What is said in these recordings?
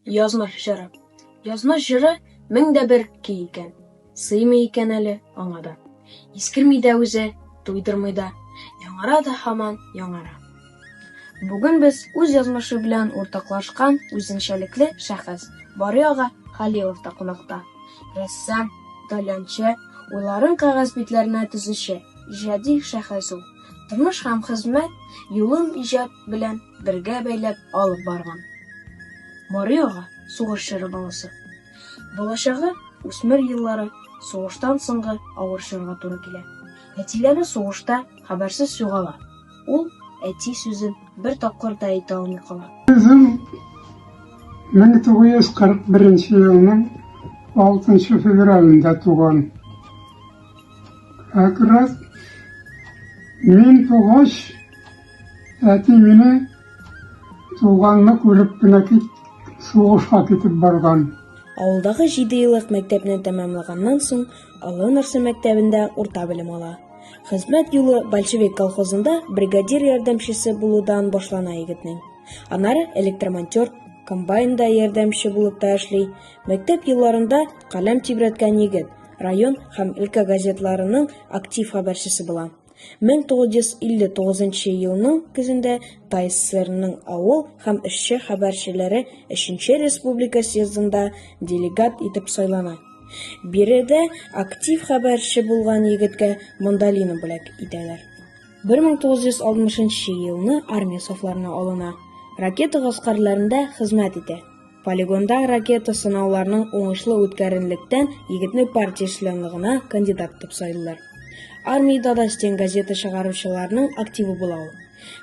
Язмыш җыры. Язмыш җыры мең дә бер ки икән. Сыймый икән әле аңа да. Искерми дә үзе, туйдырмый да. Яңара да һаман яңара. Бүген без үз язмышы белән уртаклашкан үзенчәлекле шәхес Бариага Халилов та кунакта. Рәссам, таләнче, уйларын кәгазь битләренә төзүче, иҗади шәхес ул. тормыш һәм хезмәт юлын иҗат белән бергә бәйләп алып барган. Мари ага, сугыш чоры баласы. Балачагы, үсмер еллары, сугыштан соңгы авыр чорга туры килә. Әтиләре сугышта хәбәрсез югала. Ул әти сүзен бер тапкыр да әйтә алмый кала. Үзем 1941 елның 6 февралендә туган. Әкрәт, мин тугач, әти мине туганны күреп кенә кит, сугышка китеп барган. Авылдагы җиде еллык мәктәпне тәмамлаганнан соң, Олы Нырсы мәктәбендә урта белем ала. Хезмәт юлы Большевик колхозында бригадир ярдәмчесе булудан башлана егетнең. Аннары электромонтер, комбайнда ярдәмче булып та эшли. Мәктәп елларында каләм тибрәткән егет, район һәм өлкә газетларының актив хәбәрчесе була. 1959 елның көзендә ТАССРның авыл һәм эшче хәбәрчеләре 3 республика съездында делегат итеп сайлана. Биредә актив хәбәрче булган егеткә мандолина бүләк итәләр. 1960 елны армия сафларына алына. Ракета гаскәрләрендә хезмәт итә. Полигонда ракета сынауларының уңышлы үткәренлектән егетне партия членлыгына кандидат итеп сайлыйлар. Армиядә да стен газета чыгаручыларның активы була ул.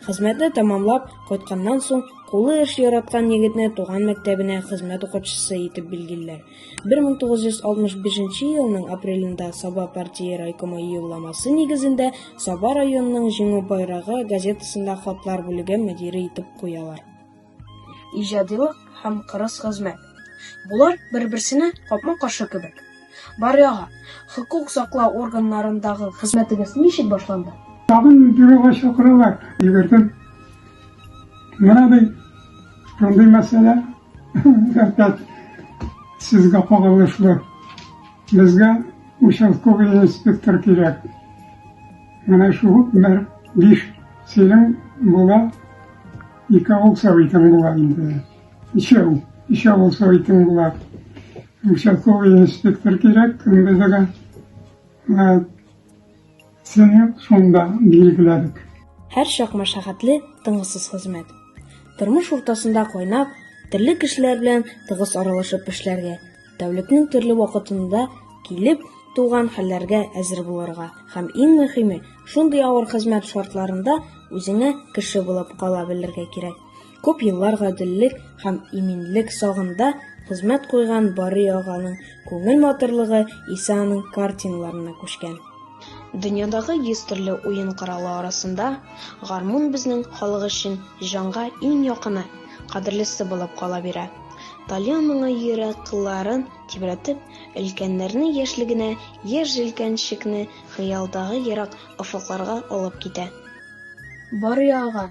Хезмәтне тәмамлап кайтканнан соң кулы эш яраткан егетне туган мәктәбенә хезмәт укытучысы итеп билгелиләр. 1965 елның апрелендә Саба партия райкомы юлламасы нигезендә Саба районының Җиңү байрагы газетасында хатлар бүлеге мөдире итеп куялар. Иҗадилык һәм кырыс хезмәт. Болар бер-берсенә капма-каршы кебек. Баряга, хокук саклау органнарындагы хезмәтегез ничек башланды? Тагын бюрога чакыралар, йөгердем. Менә ди, шундый мәсьәлә, опять сезгә кагылышлы. Безгә участковый инспектор кирәк. Менә шул мэр биш синең була Ике булса итең була инде. Ишәү, ишәү булса итең була. Участковый инспектор кирәк, кем безгә. Сине шунда билгеләдек. Һәр чак мәшәкатьле, тынгысыз хезмәт. Тормыш уртасында кайнап, төрле кешеләр белән тыгыз аралашып эшләргә, Тәүлекнең төрле вакытында килеп туган хәлләргә әзер булырга һәм иң мөһиме, шундый авыр хезмәт шартларында үзеңә кеше булып кала белергә кирәк. Күп еллар гаделлек һәм иминлек сагында хезмәт куйган Барый аганың күңел матурлыгы исә аның картиналарына күчкән. Дөньядагы йөз төрле уен коралы арасында гармун безнең халык өчен җанга иң якыны, кадерлесе булып кала бирә. Талия моңа йөрәк кылларын тибрәтеп, өлкәннәрнең яшьлегенә, яшь җилкәнчекне хыялдагы ерак офыкларга алып китә. Барый ага,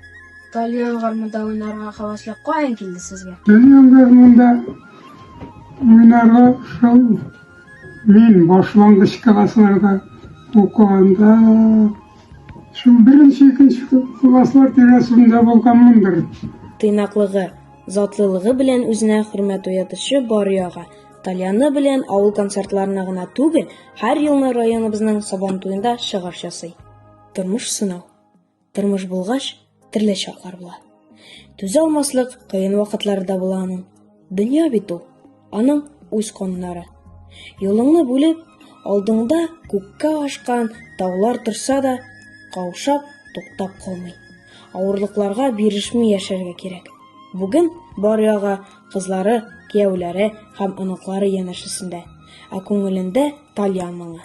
Талия гармунда уйнарга хәвәсле каян килде сезгә? Талия гармунда уйнарга шул мин башлангыч классларда укыганда, шул беренче-икенче класслар тирәсендә булганмындыр. Тыйнаклыгы. Затлылыгы белән үзенә хөрмәт уятучы Барый ага тальяны белән авыл концертларына гына түгел, һәр елны районыбызның Сабан туенда чыгыш ясый. Тормыш сынау. Тормыш булгач, төрле чаклар була. Түзә алмаслык кыен вакытлары да була аның. Дөнья бит ул. Аның үз кануннары. Юлыңны бүлеп, алдыңда күккә ашкан таулар торса да, каушап, туктап калмый. Авырлыкларга бирешми яшәргә кирәк. Бүген бар яга кызлары, кияүләре һәм оныклары янәшәсендә, ә күңелендә Тальян моңы.